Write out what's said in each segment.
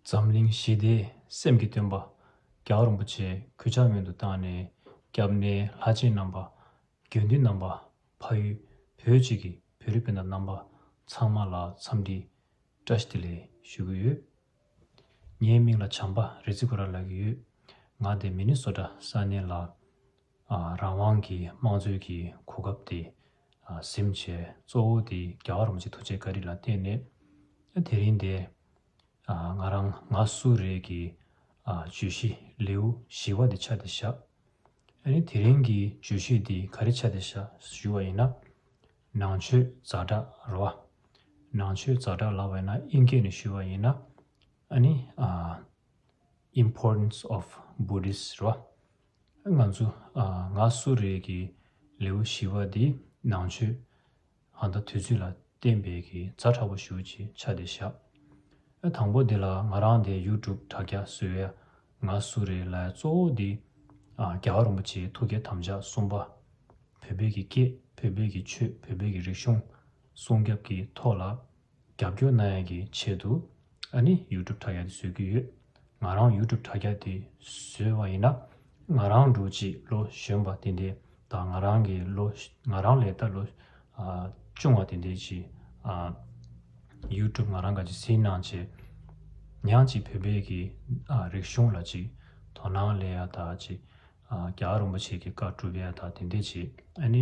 འཛམ་གླིང་ཞི་བདེ་སེམས་ཀྱི་སྟོན་པ་རྒྱ་གར་རིན་པོ་ཆེ་གུས་ཕྱག་སྨོན་དུ་བཏང་ནས་སྐྱབས་གནས་ལྷ་ཆེན་རྣམ་པ། དགེ་འདུན་རྣམ་པ། ཕ་ཡུལ་བོད་ཅིག་གི་བོད་རིགས་སྤུན་ཟླ་རྣམ་པ་ཚང་མ་ལ་འཚམས་འདྲི་བཀྲ་ཤིས་བདེ་ལེགས་ཞུ་གི་ཡོད། ངའི་མིང་ལ་བྱམས་པ་རེ་ཙི་གུ་ར་ལགས་ཡོད། ང་སྡེ་མི་ནི་སོ་བྲ་ས་གནས་ལགས། རང་དབང་གི་དམངས་གཙོའི་གི་གོ་སྐབས་དེ་ཟིམ་བྱས་གཙོ་བོ་དེ་རྒྱ་གར་རོམ་གྱི་ཐུགས་རྗེ་བཀའ་དྲིན་ལ་བརྟེན་ནས་དེ་རིང་འདི་ང་རང་ང་སུ་རེད་གི་བརྗོད་གཞི་ལེའུ་བཞི་བ་དེ་ཆ་དེ་བཞག་ཨ་ནི་དེ་རིང་གི་བརྗོད་གཞི་དེ་ག་རེ་ཆ་དེ་བཞག་ཞུ་བ་ཡིན་ན་ནང་ཆོས་རྫ་དྲག་ར་བ་ནང་ཆོས་རྫ་དྲག་ལ་བས་ན་ཨིན་སྐད་ནས་ཞུ་བ་ཡིན་ན་ཨ་ནི Importance of Buddhist ར་བ་ང་ཚོ་ང་སུ་རེད་ཀྱི་ལེའུ་བཞི་བ་འདི་ནང་ཆོས་ཨ་མདའ་དུས་ཚོད་ལ་བརྟེན་པའི་གི་རྫ་ཕྲ་བོ་ཞུགས་ཀྱི་ཆ་དེ་བཞག་ཨ་དང་པོ་འདི་ལ་ང་རང་དེ་ཡུ་ཀྲུབ་དྲ་རྒྱ་བཟོས་ཡ་ང་སུ་རེད་ལའི་གཙོ་བོ་འདི་ཨ་རྒྱ་བ་རིན་པོ་ཆེའི་ཐུགས་བསྐྱེད་དམ་བཅའ་གསུམ་པ་བོད་པའི་གི་སྐད་བོད་པའི་གི་ཆོས་བོད་པའི་གི་རིག་གཞུང་སྲུང་སྐྱབས་ཀྱི་ཐོག་ལ། རྒྱབ་སྐྱོར་གནང་ཡག་གི་ཆེད་དུ་ཨ་ནི YouTube དྲ་རྒྱ་དེ་བཟོས་ཀྱི་ཡོད། ང་རང YouTube དྲ་རྒྱ་དེ་བཟོས་བ་ཡིན་ན་ང་རང་འགྲོ་གཅིག་བློ་གཞོན་པ་དེ་འདས་དང་ང་རང་གི་བློ་ང་རང་ལས་ད་ལོ་ཆུང་བ་དེ་འདས་ཀྱི YouTube ང་རང་ག་ཅིག་སེ་གནང་བྱས་ཉག་ཅིག་བོད་པའི་གི་རིག་གཞུང་ལ་ཅིག་དོ་སྣང་ལས་ཡ་དག་ཅིག་རྒྱ་རོམ་པ་ཆེ་གི་བཀའ་བཀྲུ་བས་ཡ་དག་དེ་འདས་ཀྱི་ཨ་ནི།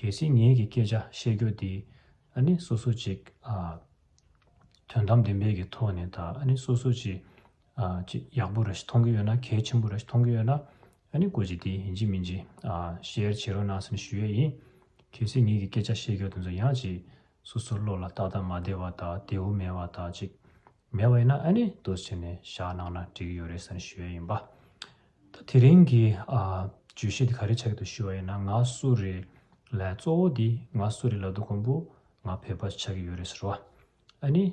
གལ་སྲིད་ངེད་ཀྱི་སྐད་ཆ་བཤད་རྒྱུ་དེ་ཨ་ནི་སོ་སོ་ཅིག་དོན་དམ་བདེན་པའི་གི་ཐོག་ནས་ད་ཨ་ནི་སོ་སོ་ཅིག་ཅིག་ཡག་པོ་ར་ཞིག་མཐོང་གི་ཡོད་ན་གལ་ཆེན་པོ་ར་ཞིག་མཐོང་གི་ཡོད་ན་ཨ་ནི་གོ་ཅིག་དེ་ཡིན་ཅིག་མིན་ཅིག་ཤེར་བྱེད་རོགས་གནང་ས་ནི་ཞུ་ཡས་ཡིན། གལ་སྲིད་ངེད་ཀྱི་སྐད་ཆ་བཤད་རྒྱུ་དེ་ཚོ་ཡང་ཅིག་སོ་སོ་བློ་ལ་ཏག་ཏག་མ་བདེ་བ་དག་དེ་འུ་མེད་བ་དག་ཅིག་མེད་བ་ཡིན་ན་ཨ་ནི་དོ་ཕྱི་ནས་བཞག་གནང་ན་འགྲིག་གི་ཡོད་རེད་ས་ནི་ཞུ་ཡས་ཡིན་པ། ད་དེ་རིང་གི་བརྗོད་གཞི་འདི་ག་རེ་བྱ་གི་འདུག་ཞུ་བ་ཡིན་ན་ང་སུ་རེད་ལས་གཙོ་བོ་འདི་ང་སུ་རེད་ལ་འདུག་གོང་བུ་ང་བོད་པ་ཆགས་ཀྱི་ཡོད་རེད་ཟེར་བ་ཨ་ནི་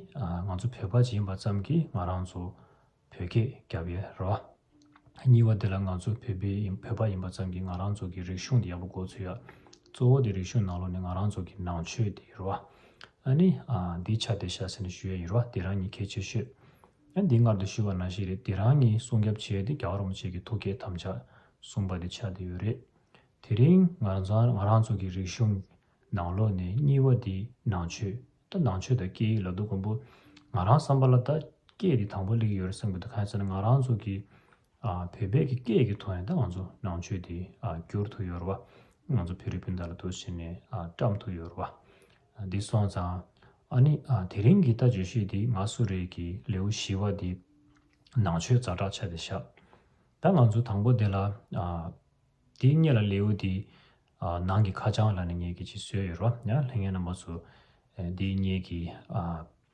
ང་ཚོ་བོད་པ་ཡིན་པ་ཙམ་གྱིས་ང་རང་ཚོ་བོད་སྐད་རྒྱབ་ཡོད་རེད་བ། གཉིས་བ་འདི་ལ་ང་ཚོ་བོད་པའི་ཡིན་བོད་པ་ཡིན་པ་ཙམ་གྱིས་ང་རང་ཚོ་གི་རིག་གཞུང་འདི་ཡག་པོ་གོ་ཚོད་ཡག་གཙོ་བོ་འདི་རིག་གཞུང་ནང་ལོགས་ནི་ང་རང་ཚོ་གི་ནང་ཆོས་འདི་ཡོད་རེད་བ། ཨ་ནི་འདི་ཆ་འདི་བྱ་ཟེར་ནས་ཞུ་ཡས་ཡོད་རེད་བ་འདི་རང་ཉིད་གལ་ཆེ་ཤོས། ཡང་འདི་མངལ་དུ་ཤི་བ་ན་ཞིག་རེད་དེ་རང་གཉིས་སྲུང་སྐྱབས་བྱས་ཏེ་རྒྱ་གར་རོང་བྱེས་ཀྱི་ཐུགས་བསྐྱེད་དམ་བཅའ་གསུངས་པ་དེ་ཆགས་བསྡད་ཡོད་རེད། དེ་རིང་ང་ཚང་ང་རང་ཚོ་གི་རིག་གཞུང་ནང་ལོགས་ནས་གཉིས་བ་དེ་ནང་ཆོས་ད་ནང་ཆོས་དང་སྐད་ཡིག་ལ་དུ་གོམས་པོ། ང་རང་བསམ་པ་ལ་ད་སྐད་དེ་དང་པོ་ལེགས་ཡོད་རེད་བསམ་གི་འདུག་གང་ཟེར་ན་ང་རང་ཚོ་གི་བོད་པས་ཀྱི་སྐད་ཀྱི་ཐོག་ནས་ད་ང་ཚོ་ནང་ཆོས་དེ་བསྒྱུར་ཐུབ་ཡོད་རེད་བ། ང་ཚོ་བེ་རི་སྤུན་ཟླ་ལ་དུ་བྱས་ནས་བཀྲམས་ཐུབ་ཡོད་རེད་བ། འདི་སོང་ཙང། ཨ་ནི། དེ་རིང་གི་ལྟ་བྱེད་ཤོས་འདི་ང་སུ་རེད་ཀྱི་ལེའུ་བཞི་བ་འདི། ནང་ཆོས་རྫ་དྲག་ཆ་དེ་བཞག། ད་ང་ཚོ་དང་པོ་དེ་ལ། འདི་རྙེད་ལ་ལེའུ་འདི། ནང་གི་ཁ་བྱང་ལ་ནི་ངེད་ཀྱི་ཅིག་བཟོས་ཡོད་རོ། ལྷན་ངེད་རྣམ་པ་ཚོ། འདི་རྙེད་ཀྱི།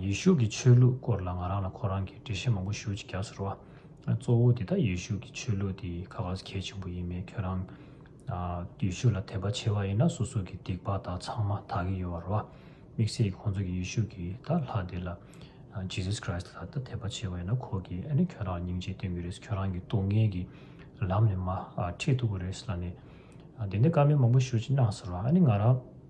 ཡེ་ཤུ་ཀྱི་ཆོས་ལུགས་སྐོར་ལ་ང་རང་ལ་ཁོ་རང་གིས་འགྲེལ་བཤད་མང་པོ་ཞུ་ཅིག་རྒྱག་ས་རེད་བ། གཙོ་བོ་འདི་ལྟ་ཡེ་ཤུ་ཀྱི་ཆོས་ལུགས་འདི་ཁ་ཁ་གལ་ཆེན་པོ་ཡིན་མེད་ཁྱོད་རང། ཡེ་ཤུ་ལ་དད་པ་ཆེ་བ་ཡིན་ན་སོ་སོ་གི་སྡིག་པ་དག་ཚང་མ་དག་གི་ཡོད་བ་རེད་བ། དམིགས་བསལ་གྱི་ཁོང་ཚོ་གི་ཡེ་ཤུ་ཀྱི་ད་ལྷ་དེ་ལ། Jesus Christ། ལ་ད་དད་པ་ཆེ་བ་ཡིན་ན་ཁོ་གིས་ཨ་ནི་ཁྱོད་རང་ལ་སྙིང་རྗེ་སྟོན་གི་རེད་ཁྱོད་རང་གི་སྡུག་བསྔལ་གྱི་ལམ་ནས་མ་ཁྲིད་ཐུབ་གི་རེད་ལ་ནི། དེ་འདྲའི་བཀའ་མོལ་མང་པོ་ཞུ་ཅིག་གནང་ས་རེད་བ་ཨ་ནི་ང་རང།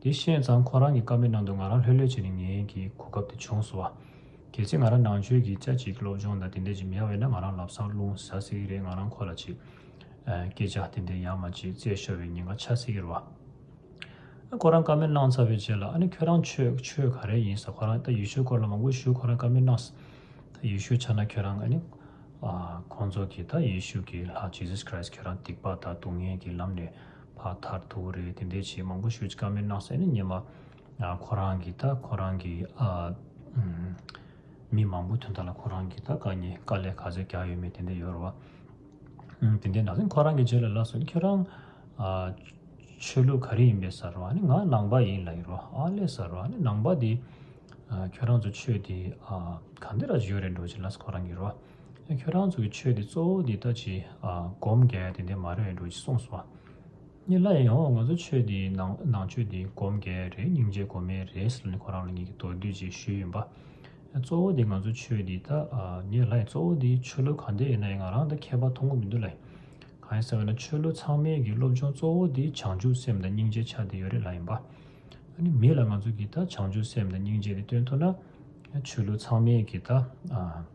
དེ་ཤེས་ཙང་ཁོ་རང་གི་ཀ་མེད་ནང་དུ་ང་རང་ལྷོད་ལྷོད་བྱེད་ནི་ངེས་ཀྱི་གོ་སྐབས་དེ་བྱུང་སོང་བ། གལ་སྲིད་ང་རང་ནང་ཆོས་ཀྱི་དཔྱད་གཅིག་སློབ་སྦྱོང་དང་དེ་འདྲས་ཀྱི་མི་ཡ་བས་ན་ང་རང་ལབ་སང་རླུང་ཟ་སྲིད་ཀྱི་རེད་ང་རང་ཁོ་ལ་ཅིག། སྐད་ཆ་དེ་འདྲས་ཡང་མ་བྱེད་བཙལ་ཤོར་བའི་ཉེན་ཁ་ཆགས་སྲིད་ཀྱི་རེད་བ། ཨ་ཁོ་རང་ཀ་མེད་གནང་ཚར་བའི་རྗེས་ལ་ཨ་ནི་ཁྱོད་རང་ཆོས་ཆོས་ག་རེ་ཡིན་ཟ་ཁོ་རང་ད་ཡུལ་ཤུལ་སྐོར་ལ་མ་དགོས་ཤུལ་ཁོ་རང་ཀ་མེད་གནང་ཟ། ཡུལ་ཤུལ་ཆགས་ན་ཁྱོད་རང་ཨ་ནི། ཁོང་ཚོ་གིས་ད་ཡུལ་ཤུལ་གྱི་ལྷ Jesus Christ ཁྱོད་རང་སྡིག་པ་དང་སྡུག་བསྔལ་གྱི་ལམ་ནས་བ་མཐར་ཐུག་རེད་དེ་འདྲའི་ཆེས་མང་པོ་ཤོད་ཀྱི་ཀ་མེད་ནགས་ཚལ་ནི་ཉེས་མ་ཁོ་རང་གི་ད་ཁོ་རང་གི་ཨ། མི་མང་པོ་དོན་དག་ལ་ཁོ་རང་གི་ད་དཀའ་ཉེས་དཀའ་ལས་ག་ཚོད་རྒྱག་ཡོད་མེད་དེ་འདྲ་ཡོད་རེད་བ། དེ་འདྲའི་ནང་ཁོ་རང་གི་རྗེས་ལ་ལ་སོན་ཁྱོད་རང། ཆོས་ལུགས་ག་རེ་ཡིན་པའི་ཟེར་བ་ནི་ང་ནང་པ་ཡིན་ལ་ཡོད་རེད་བ་ཨ་ལས་ཟེར་བ་ནི་ནང་པ་དེ། ཁྱོད་རང་ཚོ་ཆོས་དེ་ག་འདི་ར་བྱེད་ཡོད་རེད་འགྲོ་བྱེད་ལ་ཁོ་རང་གི་རེད་བ། ཁྱོད་རང་ཚོ་གི་ཆོས་འདི་གཙོ་བོ་འདི་ལྟ་ཅི། སྒོམ་དགེ་དེ་འདི་མ་རེད་འགྲོ་ཅི་གསུངས་སོང། གཉིས་ལ་ཡང་ང་ཚོ་ཆོས་འདི་ནང་ཆོས་འདི་སྒོམ་དགེ་རེད་སྙིང་རྗེ་སྒོམ་མེད་རེད་ཟེར་ནས་ཁོ་རང་ལ་ངེད་ཀྱི་མདོར་བསྡུས་ཅིག་ཞུས་ཡིན་པ། གཙོ་བོ་འདི་ང་ཚོ་ཆོས་འདི་ལྟ། གཉིས་ལ་ཡང་གཙོ་བོ་འདི་ཆོས་ལུགས་གང་འདི་ཡིན་ན་ཡང་ང་རང་ལྟ་མཁས་པ་མཐོང་གི་མི་འདུག་ལ། གང་ཡིན་ཟེར་བ་ན་ཆོས་ལུགས་ཚང་མའི་གི་སློབ་སྦྱོང་གཙོ་བོ་འདི་བྱང་ཆུབ་སེམས་དང་སྙིང་རྗེ་ཆ་འདི་ཡོད་རེད་ལ་ཡིན་པ། མིད་ལ་ང་ཚོ་གི་ལྟ་བྱང་ཆུབ་སེམས་དང་སྙིང་རྗེ་འདི་སྟོན་ཐུབ་ན། ཆོས་ལུགས་ཚང་མའི་གི་ལྟ།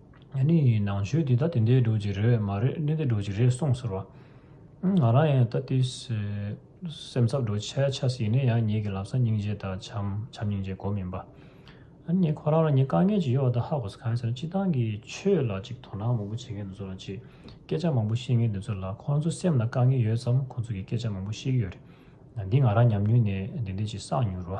ཨ་ནི་ནང་ཆོས་འདི་ད་དེ་འདྲའི་སྒྲོག་ཅིག་རེད་མ་རེད་འདི་འདྲའི་སྒྲོག་ཅིག་རེད་གསུངས་ཟེར་བ། ང་རང་ཡང་ད་ལྟའི་སེམས་འཚབ་འགྲོ་ཆ་ཆ་ཟིག་ཡིན་ན་ཡང་ངེད་ཀྱི་ལག་ས་སྙིང་རྗེ་དང་བྱམས་བྱམས་སྙིང་རྗེ་གོ་མིན་པ། ཨ་ནི་ཁོ་རང་རང་ཉིད་དཀའ་ངལ་གྱི་གཡོག་དང་ཧ་གོ་ས་གང་ཡིན་ཟེར་ན་སྤྱི་བཏང་གི་ཆོས་ལ་ཅིག་དོ་སྣང་མང་པོ་བྱེད་མཁན་དེ་ཚོ་ལ་ཅིག་སྐད་ཆ་མང་པོ་བཤད་མཁན་དེ་ཚོ་ལ་ཁོ་རང་ཚོ་སེམས་ལ་དཀའ་ངལ་ཡོད་ཙམ་ཁོ་ཚོ་གི་སྐད་ཆ་མང་པོ་བཤད་ཀྱི་ཡོད་རེད། འདི་ང་རང་ཉམས་མྱོང་ནས་འདི་འདྲའི་ཅིག་བསགས་མྱོང་རོ།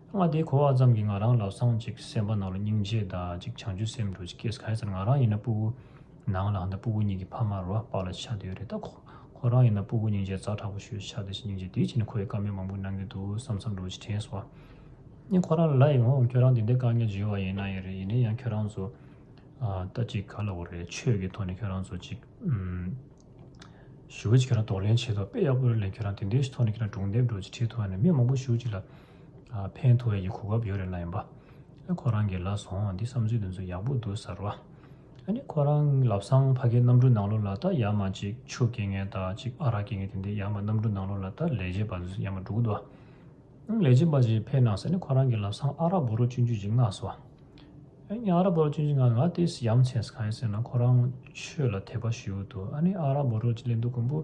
ང་དེ་གོ་བ་ཙམ་གྱིས་ང་རང་ལ་སངས་ཅིག་སེམས་པ་ནང་ལ་སྙིང་རྗེ་དག་ཅིག་བྱང་ཆུབ་སེམས་འགྲོ་ཅིག་སྐྱེས་གལ་སྲིད་ང་རང་ཡིན་ན་སྤུ་བོ་ནང་ལ་འདི་སྤུ་བོ་གཉིས་ཀྱི་ཕ་མ་རོ་དཔག་ལ་ཆགས་དེའི་རེ་ད་གོ་ཁོ་རང་ཡིན་ན་སྤུ་བོ་སྙིང་རྗེ་རྩ་དྲག་པོ་ཞུ་ཆགས་དེ་བཞིན་སྙིང་རྗེ་དེའི་ཕྱི་ནས་ཁོ་ཡི་བཀའ་མོལ་མང་པོ་གནང་གི་འདུག་བསམ་བསམ་འགྲོ་ཅིག་དྲན་སོང་ངས་ཁོ་རང་ལ་ལ་ཡིན་འོང་ཁྱོད་རང་དེ་འདྲའི་བཀའ་ངལ་བརྗོད་བ་ཡིན་ན་ཡིན་རེད་ཡིན་ན་ཡང་ཁྱོད་རང་ཚོ་ལྟ་ཅིག་ག་ལ་བོ་རེད་ཆོས་ཀྱི་ཐོག་ནས་ཁྱོད་རང་ཚོ་ཅིག་ཞུ་ཅིག་ཁྱོད་རང་དོགས་ལན་བྱེད་དོགས་དཔེ་ཡག་པོ་རེད་ལན་ཁྱོད་རང་དེ་འདྲའི་ཐོག་ནས་ཁྱོད་རང་སྒྲུང་འདེབས་འགྲོ་ཅིག་ཁྲི་ཐོག་ནས་མི་མང་པོ་ཞུ་ཅིག་ལ། ཕན་ཐོགས་ཡི་གོ་སྐབས་ཡོད་རེད་ལབ་ཡིན་པ། ཁོ་རང་གིས་ལབ་སོང་འདི་བསམ་ཚུལ་འདི་ཚོ་ཡག་པོ་འདུག་གསར་བ། ཨཱ་ནི་ཁོ་རང་ལབ་སང་ཕ་གི་གནམ་གྲུ་ནང་ལོ་ལ་ལྟ་ཡ་མ་གཅིག་ཆུ་སྐྱེ་ངན་ལྟ་གཅིག་ཨ་རག་སྐྱེ་ངན་དེ་འདི་ཡ་མ་གནམ་གྲུ་ནང་ལོ་ལ་ལྟ་ལས་བྱེད་པ་ཡ་མ་འབྲུག་ལྟ། ལས་བྱེད་པ་ཅིག་ཕེབས་ནང་ས་ནི་ཁོ་རང་གིས་ལབ་སང་ཨ་རག་བོ་རོ་བཅུ་འཇུ་གཅིག་མངགས་སོ། ཨཱ་ནི་ཨ་རག་བོ་རོ་བཅུ་འཇུ་མངགས་ང་དེ་ཡ་མཚན་ཟ་ག་ཡིན་ཟེར་ན་ཁོ་རང་ཆོས་ལ་དད་པ་ཞུ་འདུག་ཨཱ་ནི་ཨ་རག་བོ་རོ་ཅིག་ལེན་འདུག་མགོན་པོ།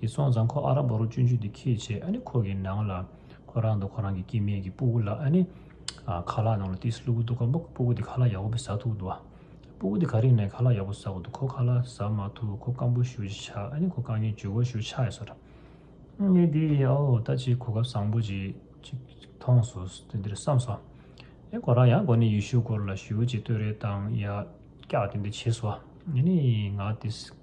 དེ་སོང་ཙང་ཁོ་ཨ་ར་བ་རུ་སྤྱོད་འཇུག་དེ་ཁས་བྱས་ཨ་ནི་ཁོ་གི་ནང་ལ་ཁོ་རང་དང་ཁོ་རང་གི་སྐྱེས་དམན་གྱི་སྤུ་བོ་ལ་ཨ་ནི་ཁ་ལག་ནང་ལ་ཏིས་ལུ་བུ་འདུག་ག་འབུ་སྤུ་བོ་དེ་ཁ་ལག་ཡག་པོ་བི་ཟ་ཐུག་འདུག་སྤུ་བོ་དེ་ག་རིང་ནས་ཁ་ལག་ཡག་པོ་ཟ་གོ་འདུག་ཁོ་ཁ་ལག་ཟ་མ་ཐུག་ཁོ་རྐང་སྤོ་ཞུ་ཅི་ཆ་ཨ་ནི་ཁོ་རྐང་གཉིས་ཇུས་འགོ་ཞུ་ཆ་ཡ་སོ་ར་ངས་དེ་ཨའོ་ད་ཅིག་གོ་སྐབས་བཟང་པོ་ཅིག་མཐོང་སོ་དེ་འདིར་བསམ་སོ་ཨེ་ཁོ་རང་ཡང་གོ་ནི་ཡུལ་ཤུལ་སྐོར་ལ་ཞུ་ཅིག་ལྟོས་རེ་བཏང་ཡ་སྐྱག་དེ་འདི་བྱེད་སོ་ཨ་ནི་ང་ཏིས།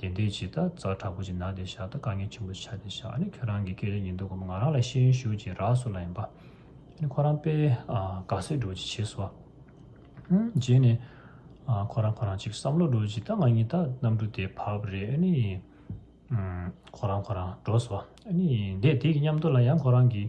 དེ་འདི་ཇི་ལྟར་རྫ་དྲག་པོ་ཅིག་ན་དེ་བཞག་ད་དཀའ་ངལ་ཆེན་པོ་ཆགས་ཏེ་བཞག་ཨ་ནི་ཁྱོད་རང་གི་སྐད་ཆ་ཉིན་ཐོ་གོ་མ་ང་རང་ལ་ཤེས་ཡོན་ཞུ་ཅིག་རག་སུ་ལ་ཡིན་པ་ཨ་ནི་ཁོ་རང་པས་དགའ་སེ་འགྲོ་ཅིག་བྱེད་སོ། རྗེས་ནས་ཁོ་རང་ཁོ་རང་ཅིག་བསམ་བློ་འགྲོ་ཅིག་ད་ང་གཉིས་ད་གནམ་གྲུ་དེ་བབས་པ་རེད་ཨ་ནི། ཁོ་རང་ཁོ་རང་འགྲོ་སོ་ཨ་ནི་འདས་དེ་གི་མཉམ་དུ་ལ་ཡང་ཁོ་རང་གི།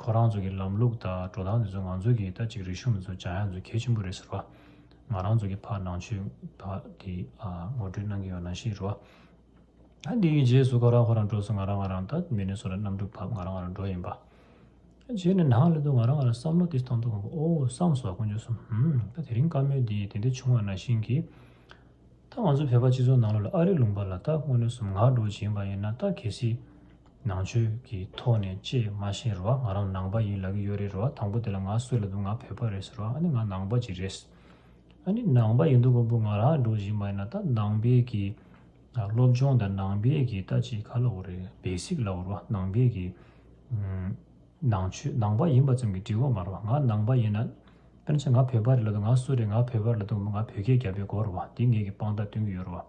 ཁོ་རང་ཚོ་གི་ལམ་ལུགས་དང་འགྲོ་སྟངས་དེ་ཚོ་ང་ཚོ་གི་ད་ཅིག་རིག་གཞུང་མི་ཚོ་ཇག་ཡག་ཚོ་གལ་ཆེན་པོ་རེད་ཟེར་བ། ང་རང་ཚོ་གི་ཕར་ནང་ཆོས་དག་དེ་ངོ་སྤྲོད་གནང་གི་ཡོད་ན་ཞེས་རོ། ད་དེའི་རྗེས་སུ་ཁོ་རང་ཁོ་རང་འགྲོ་སོང་ང་རང་ང་རང་ད་མི་ནས་སོང་ལ་གནམ་གྲུ་ཕབ་ང་རང་ང་རང་འགྲོ་ཡིན་པ། རྗེས་ནས་ནང་ལ་དུ་ང་རང་ང་རང་བསམ་བློ་དེ་གཏང་ཐུབ་ཨོ་བསམ་སོ་དཀོན་མཆོག་གསུམ་ཧུམ་ད་དེ་རིང་བཀའ་མོལ་འདི་དེ་འདྲ་བྱུང་བ་ན་བཞིན་གི། ད་ང་ཚོ་བོད་པ་སྤྱི་ཚོགས་ནང་ལོགས་ལ་ཨ་རིག་ལུང་པ་ལ་ད་དངོས་གནས་སུམ་ངག་སྒྲོག་བྱེད་ཡིན་པ་ཡིན་ན་ད་གལ་སྲིད། ནང་ཆོས་ཀྱི་ཐོག་ནས་ཅེས་མ་བཤད་རོགས་ང་རང་ནང་པ་ཡིན་ལབ་ཀྱི་ཡོད་རེད་རོགས་དང་པོ་དེ་ལ་ང་སུ་ལ་འདུག་ང་བོད་པ་རེད་ཟེར་རོགས་ཨ་ནི་ང་ནང་པ་ཅིག་རེད་ཟེར་ཨ་ནི་ནང་པ་ཡིན་འདུག་གོ་འབུ་ང་རང་ལ་འགྲོ་བཞིན་པ་ཡིན་ན་ད་ནང་པའི་གི་སློབ་སྦྱོང་དང་ནང་པའི་གི་ལྟ་ཅི་ག་ལ་བོ་རེད basic ལ་བོ་རོགས་ནང་པའི་གི་ནང་ཆོས་ནང་པ་ཡིན་པ་ཙམ་གྱི་འབྲི་གོ་མ་རོགས་ང་ནང་པ་ཡིན་ན་དཔེར་ན་ཆ་ང་བོད་པ་རེད་ལབ་དུ་ང་སུ་རེད་ང་བོད་པ་རེད་ལབ་དུ་འབུ་ང་བོད་སྐད་རྒྱབ་པའི་གོ་རོགས་འདི་ངེད་ཀྱི་དཔང་རྟགས་སྟོན་གྱི་ཡོད་རོགས།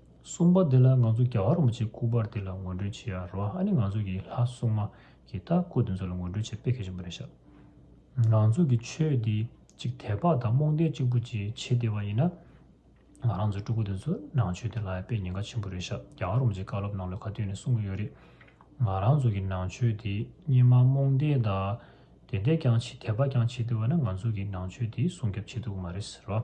གསུངས་པ་འདི་ལ་ང་ཚོ་རྒྱ་གར་རོ་མ་ཆེ་སྐུ་པར་འདི་ལ་ངོས་འགྲོན་བྱེད་ཡ་རོ་ཨ་ནི་ང་ཚོ་གི་ལྷ་སྲུང་མ་གི་རྟ་སྐུ་དེ་ཚོ་ལ་ངོས་འགྲོན་བྱེད་དཔེ་གལ་ཆེན་པོ་རེད་ཤག་ང་ཚོ་གི་ཆོས་འདི་གཅིག་དད་པ་དང་རྨོངས་དད་གཅིག་པོ་གྱིས་བྱེད་བདེ་བ་ཡིན་ན་ང་རང་ཚོའི་སྤྲུ་སྐུ་དེ་ཚོ་ནང་ཆོས་དེ་ལ་དཔེ་ཉེན་ཁ་ཆེན་པོ་རེད་ཤག་རྒྱ་གར་རོ་མ་ཆེ་བཀའ་སློབ་ནང་ལོ་ག་བསྟུན་ནས་གསུང་གི་ཡོད་རེད་ང་རང་ཚོ་གི་ནང་ཆོས་དེ་སྙེ་མ་རྨོངས་དད་དང་དད་དད་ཀྱང་བྱེད་དད་པ་ཀྱང་བྱེད་བདེ་བ་ན་ང་ཚོ་གི་ནང་ཆོས་དེ་སྲུང་སྐྱོབ་བྱེད་ཐུབ་ཀྱི་མ་རེད་ཟེར་རོ།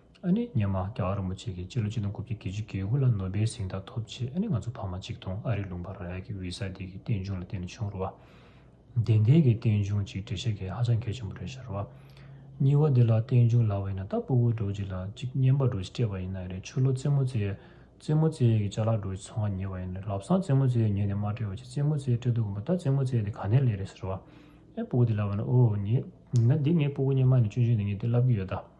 ཨ་ནི་སྙེ་མ་རྒྱ་གར་རིན་པོ་ཆེ་གིས་སྤྱི་ལོ་གཅིག་དང་དགུ་བརྒྱ་དགེ་བཅུ་དགེ་དགུ་ལ་ནོ་བེལ་གཟེངས་རྟགས་ཐོབ་རྗེས་ཨ་ནི་ང་ཚོ་ཕ་མ་ཅིག་དང་ཨ་རིའི་ལུང་པ་ར་ཡ་གི་ཝི་ས་དེ་གི་རྟེན་འབྱུང་ལ་བརྟེན་ནས་བྱུང་རུ་བ། བདེན་ཐད་ཀྱི་རྟེན་འབྱུང་ཅིག་འབྲི་ཤེས་མཁན་ཧ་ཅང་གལ་ཆེན་པོ་རེད་ཤར་བ། སྙི་བ་དེ་ལ་རྟེན་འབྱུང་ལ་བ་ཡིན་ན་ད་སྤུ་བོ་གྲོ་ཅིག་ལ་ཅིག་སྙེ་འབའ་གྲོ་ཞེས་སྤྲད་པ་ཡིན་ན་རེད་ཆུ་ལོ་རྩེ་མོ་རྩེ་ཡས་རྩེ་མོ་རྩེ་ཡས་ཀྱི་ལྕགས་ལ་གྲོ་ཞེས་ཚོང་བ་ཉེ་བ་ཡིན་ནས་ལབ་སང་རྩེ་མོ་རྩེ་ཡས་ཉེ་ནས་མ་སྤྲད་བ་ཅིག་རྩེ་མོ་རྩེ་ཡས་སྤྲད་འདུག་གམ་པོ་ད་རྩེ་མོ་རྩེ་ཡས་དེ་ག་ནས་ལས་རེད་ཟེར་བ། ཨེ་སྤུ་བོ་དེ་ལ་བ་ན་ཨོ་ཉེ། ཡིན་ན་འདི་ངའི་སྤུ་བོ་སྙེ་མ་ཡིན་ན་སྐྱོན་བརྗོད་ནི་ངས་དེ་ལབ་ཀྱི་ཡོད་ད།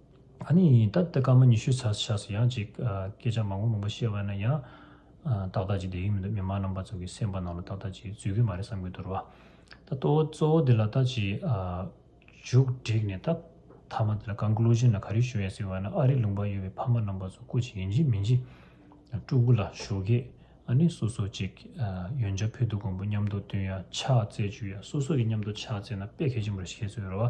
ད་ནི་ཡིན་སྟབས་སྐར་མ་ཉི་ཤུའི་ཚར་ཆགས་སུ་ཡང་ཅིག། སྐད་ཆ་མང་པོ་མང་པོ་བཤད་པ་ན་ཡང། ཏག་ཏག་ཅིག་བསྡད་ཀྱི་མི་འདུག་མི་མང་རྣམ་པ་ཚོ་གི་སེམས་པ་ནང་ལ་ཏག་ཏག་ཅིག་འཛུལ་གྱི་མ་རེད་བསམ་གྱི་འདུག་རོ། ད་གཙོ་བོ་གཙོ་བོ་དེ་ལ་ད་ཅིག། མཇུག་བསྒྲིགས་ནས་ད། མཐའ་མ་དེ་ལ Conclusion ལ་ག་རེ་ཞུ་ཡ་ཟེར་བ་ན་ཨ་རིའི་ལུང་པར་ཡོད་པའི་ཕ་མ་རྣམ་པ་ཚོ་སྐུ་ཅིག་ཡིན་གྱི་མིན་གྱི། སྤྲུལ་སྐུ་ལ་ཞུ་གི། ཨ་ནི་སོ་སོ་ཅིག། ཡོན་ཆབ་ཕུད་དུ་གོང་བུ་མཉམ་དུ་བསྟུན་ཡ་ཕྱག་བཙལ་བཅུག་ཡ་སོ་སོ་གི་མཉམ་དུ་ཕྱག་བཙལ་ན་དཔེ་གལ་ཆེན་པོ་རེ་ཞིག་ཤེས་ཚོད་ཡོད་རོ།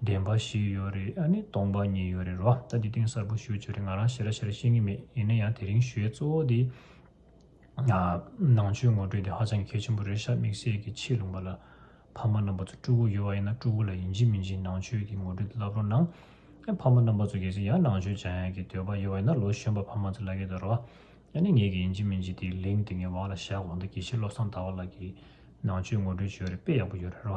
བདེན་པ་ཞིག་ཡོད་རེད་ཨ་ནི་སྟོང་པ་ཉིད་ཡོད་རེད་རོ་ད་འདི་སྟེང་གསར་བུ་ཞུ་བྱོས་རེད་ང་རང་ཞེ་ར་ཞེ་ར་ཤེས་ངེས་མེད་ཡིན་ན་ཡང་དེ་རིང་ཞུའི་གཙོ་བོ་དེ་ནང་ཆོས་ངོ་སྤྲོད་དེ་ཧ་ཅང་གལ་ཆེན་པོ་རེད་ཤ་མིག་སེར་གྱི་ཆེས་ལུང་པ་ལ་ཕ་མ་རྣམ་པ་ཚོ་སྤྲུལ་སྐུ་ཡོད་བ་ཡིན་ན་སྤྲུལ་སྐུ་ལ་ཡིན་གཅིག་མིན་གཅིག་ནང་ཆོས་ཀྱི་ངོ་སྤྲོད་དེ་བསླབ་རོགས་གནང་ཨ་ཕ་མ་རྣམ་པ་ཚོ་གལ་སྲིད་ཡང་ནང་ཆོས་སྦྱང་ཡག་གི་འདོད་པ་ཡོད་བ་ཡིན་ན་ལོ་གཞོན་པ་ཕ་མ་ཚོ་ལ་ཁད་དོ་རོ་ཨ་ནི་ངེད་ཀྱི་ཡིན་གཅིག་མིན་གཅིག་དེ་ལིང་དེ་ངའི་བག་ལ་བཞག་གོང་ད་དགེ་བཤེས་བློ་བཟང་ཟླ་བ་ལགས་ཀྱིས་ནང་ཆོས་ངོ་སྤྲོད་བྱོས་རེད་དཔེ་ཡག་པོ་ཡོད་རེད་རོ།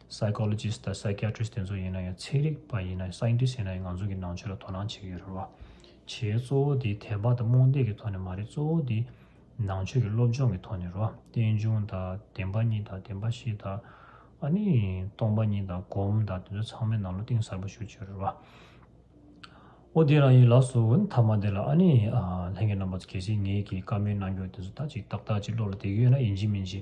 Psychologist དང Psychiatrist དེ་ཚོ་ཡིན་ན་ཡང་ཚན་རིག་པ་ཡིན་ན་ཡང Scientist ཡིན་ན་ཡང་ང་ཚོ་གི་ནང་ཆོས་ལ་དོ་སྣང་བྱེད་ཀྱི་ཡོད་རེད་བ། བྱེད་གཙོ་བོ་དེ་དད་པ་དང་རྨོངས་དད་ཀྱི་ཐོག་ནས་མ་རེད་གཙོ་བོ་དེ་ནང་ཆོས་ཀྱི་སློབ་སྦྱོང་གི་ཐོག་ནས་རེད་བ། རྟེན་འབྱུང་དང་བདེན་པ་གཉིས་དང་བདེན་པ་བཞི་དང་ཨ་ནི་སྟོང་པ་གཉིས་དང་སྒོམ་དང་དེ་ཚོ་ཚང་མའི་ནང་ལོ་གཏིང་ཟབ་པོ་ཞུགས་ཀྱི་ཡོད་རེད་བ། ཨོ་དེ་རང་ཡིན་ལགས་སོ་འོན་མཐའ་མ་དེ་ལ་ཨ་ནི་ལྷན་གྱི་རྣམ་པ་ཚོ་གལ་སྲིད་ངེད་ཀྱི་བཀའ་མོལ་གནང་རྒྱུ་དེ་ཚོ་ད་ཅིག་ཏག་ཏག་ཅིག་བློ་ལ་བསྡད་ཀྱི་ཡོད་ན་ཡིན་གྱི་མིན་གྱི།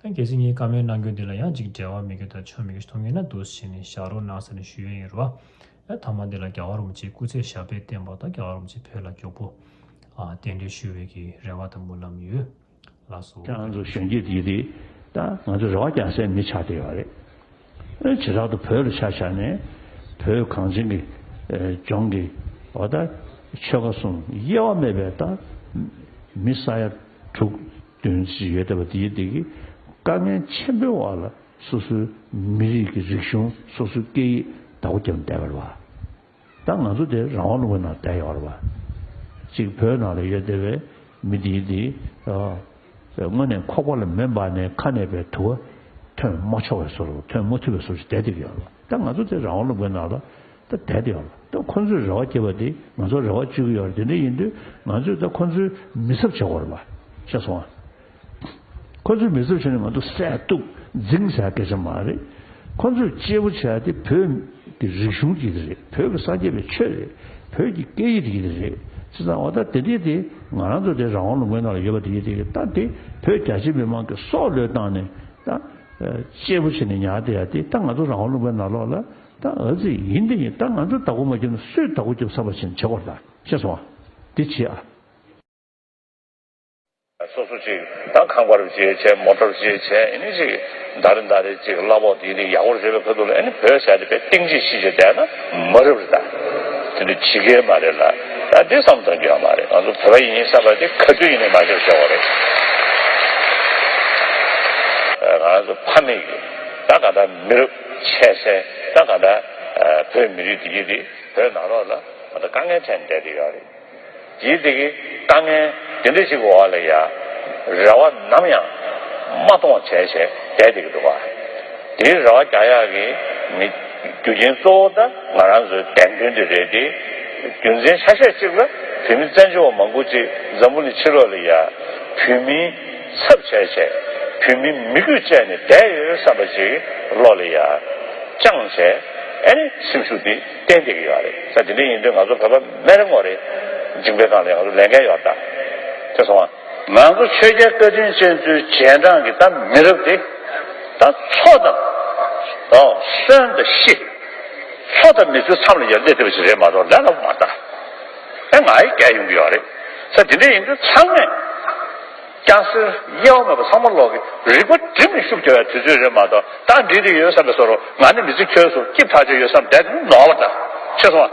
ཁྱེད་ཚོས་ངའི་བཀའ་མོལ་གནང་སྐྱོན་དེ་ལ་ཡང་ཅིག་འབྲེལ་བ་མི་དགོས་དང་ཆོ་མི་དགོས་ཐུགས་ངལ་ན་དུ་ཟེར་ནས་བཞག་རོགས་གནང་ཟེར་ནས་ཞུ་ཡོན་ཡོད་རེད་བ། ཡ་ཐ་མ་འདི་ལ་རྒྱ་གར་རུམ་ཅིག་སྐུ་ཚེ་ཞབས་པད་བརྟན་པ་དང་རྒྱ་གར་རུམ་ཅིག་བོད་ལ་མགྱོགས་པོ། ཨ། རྟེན་འབྲེལ་ཞུ་བའི་གི་རེ་བ་དང་མུན་ལམ་ཡོད། ལགས་སོ། ཁྱེད་རང་ཚོ་གཞོན་སྐྱེས་དེ་དང་ང་ཚོ་རེ་བ་རྒྱག་སའི་མི་ཆགས་བསྡད་ཡོད་རེད། བྱེ་བྲག་ཏུ་བོད་ལ་ཆ་བཞག་ནས་བོད་གངས་ཅན་གྱི་ལྗོངས་ཀྱི་བ་ད་ཆོལ་ཁ་གསུམ་དབྱེ་བ་མེད་པའི་ད་མི་ས་ཡ་དྲུག་བདུན་ཅིག་ཡོད་བསྡད་པ་འདིའི་སྟེང་གི་དཀའ་ངལ་ཆེན་པོའི་བར་ལ་སོ་སོའི་མི་རིགས་ཀྱི་རིག་གཞུང་སོ་སོའི་སྐད་ཡིག་ད་གོ་རྒྱབ་བསྡད་པར་བ། ད་ང་ཚོ་དེ་རང་དབང་ལུང་པའི་ནང་བསྡད་ཡོད་རེད་བ། གཅིག་བོད་ནང་ལ་ཡོད་བསྡད་བའི་མི་དེའི་དེ་དངོས་ནས་ཁོག་པ་ལ་མེ་འབར་ནས་ཁ་ནས་པའི་དུ་བ་ཐོན་མ་ཆོག་བའི་སོར་ཐོན་མ་ཐུབ་པའི་སོར་བསྡད་བསྡད་ཀྱི་ཡོད་རེད་བ། ད་ང་ཚོ་དེ་རང་དབང་ལུང་པའི་ནང་ལ་ད་བསྡད་བསྡད་ཡོད་རེད་བ། ད་ཁོ་ཚོས་རེ་བ་བསྐྱེད་པ་དེ་ང་ཚོ་རེ་བ་བཅོལ་གྱི་ཡོད་རེད་དེ་འདྲ་ཡིན་དུས་ང་ཚོས་ད་ཁོ་ཚོའི་མི་ཚབ་བྱེད་དགོས་རེད་བ། ཤེས་སོང་ང། ཁོ་ཚོས་མི་གཙོ་ཆེ་ནི་ང་ཚོ་བསད་གཏུབ་རྫིང་བྱ་སྐད་ཆ་མ་རེད། ཁོ་ཚོས་གཅེས་པོ་བྱ་དེ་བོད་ཀྱི་རིག་གཞུང་གཅིག་རེད་བོད་ཀྱི་སངས་རྒྱས་པའི་ཆོས་རེད་བོད་ཀྱི་སྐད་ཡིག་དེ་རེད། ཅི་ཙང་བ་ད་དེ་དེ་དེ་ང་རང་ཚོ་དེ་རང་དབང་ལུང་པའི་ནང་ལ་ཡོད་པ་དེ་དེ་ད་དེ་བོད་རྒྱ་ཆེ་མི་མང་གི་སྲོག་བློས་བཏང་ནས་ད་གཅེས་པོ་བྱེད་ནས་ཉར་དེ་ཡ་དེ་ད་ང་ཚོ་རང་དབང་ལུང་པའི་ནང་ལོག་ལ་ད་འུ་ཚིག་ཡིན་འདི་ཡིན་ད་ང་ཚོས་དག་གུ་མ་རྒྱབ་ན་སུས་དག་གུ་རྒྱབ་ས་པ་བྱེད་ན་བྱེད་དགོ་ད་ཤེས་སོང་ང་འདི་བྱེད་ཨ། སོ་སོ་ཅིག་དང་ཁང་པར་བརྗེས་བྱས་མོ་ཏོར་བརྗེས་བྱས་ཨེ་ནི་ཅིག་མདའ་རེ་མདའ་རེ་ཅིག་གླ་ཕོག་དིག་དིག་ཡག་པོར་བརྗོད་པའི་ཁོལ་དུ་ལ་ཨེ་ནི་བོད་ཞག་རེ་པའི་སྟེང་ཅིག་ཤི་བྱེད་བསྡད་ན་མ་རབས་རེད་ད། དེ་འདྲ་ཇི་དགའི་མ་རེད་ལ་ད་འདི་བསམ་གཏོང་རྒྱུ་ཡང་མ་རེད་ང་ཚོ་བོད་པ་ཡིན་ཡིན་བསམ་པ་དེ་ག་དུས་ཡིན་ནས་མ་ཤོར་ཤོར་བ་རེད། ང་རང་ཚོ་ཕ་མེས་ཀྱི་ད་ག་འདྲ་མི་རབས་ཆད་སེ་ད་ག་འདྲ་བོད་མི་རིགས་དེ་གྱིས་དེ་བོད་ནང་རོགས་ལ་ད་དཀའ་ངལ་འཕྲད་ནས་བསྡད་དེ་ཡོད་རེད། ཡིད་བདེ་གི་དཀའ་ངལ་དེ་འདྲ་ཞིག་གི་འོག་ལ་ཡང་རེ་བ་ནམ་ཡང་མ་གཏོང་བ་བྱས་བྱས་བསྡད་དེ་གི་འདུག་བ། དེའི་རེ་བ་རྒྱག་ཡག་གི་མི། རྒྱུ་རྐྱེན་གཙོ་བོ་ད་ང་རང་ཚོའི་དད་འདུན་དེ་རེད་དེ། རྒྱུ་མཚན་ཆ་ཤས་གཅིག་ལ་བོད་མི་བཙན་བྱོལ་བ་མང་པོ་ཅིག་འཛམ་བུ་ནི་ཕྱི་ལོག་ལ་ཡང་བོད་མི་ཚབ་བྱས་བྱས་བོད་མི་མི་གུས་བཅས་ནས་བསྡད་ཡོད་བསམ་པ་ཅིག་བློ་ལ་ཡང་བཅངས་བྱས་ཨ་ནི་སེམས་ཤུགས་འདི། ཏན་ཏིག་ཡོད་རེད་ས་དེ་འདྲ་ཡིན་དུས་ང་ཚོ་བོད་པ་མེད་རེ་ངོ་རེ། ཇིང་པའི་སྒང་ལ་ཡང་ང་ཚོ་ལས་འགན་ཡོད་རེད་ད། དེ་སོང་ང། ང་ཚོ་ཆོས་རྒྱལ་བཀའ་དྲིན་ཅན་ཚོའི་རྗེས་འབྲང་གི་ད་མི་རབས་དེ། ད་ཚོ་ད། ཨོ། གསོན་ད་ཤི། ཚོ་ད་མི་ཚོའི་མཚམས་ལ་ཡར་སྡད་ཐུབ་པ་ཞིག་རེད་མ་གཏོགས་ལས་སླ་པོ་མ་རྟགས། ཨེ་ང་ཡིས་བསྐྱལ་ཡོང་གི་ཡོད་རེད། ས་དེ་འདྲ་ཡིན་དུས་ཚང་མས། ཀྱང་སྲིད། དབྱེ་བ་མེད་པར་ཚང་མ་ལོག་གི། རིག་པ་སྒྲིབ་མི་ཤུགས་བྱ་བའི་དུས་ཚོད་རེད་མ་གཏོགས་རྟགས་འདྲིས་དེ་ཡོད་བསམ་པའི་སོར་ང་ནི་མི་བརྩི་ཁྱོད་སོ་སྐྱིབས་ཐག་ཆོད་ཡོད་བསམ་བསྡད་དེ་ནོར་བ་འདྲ། ཤེས་སོང་ཨ།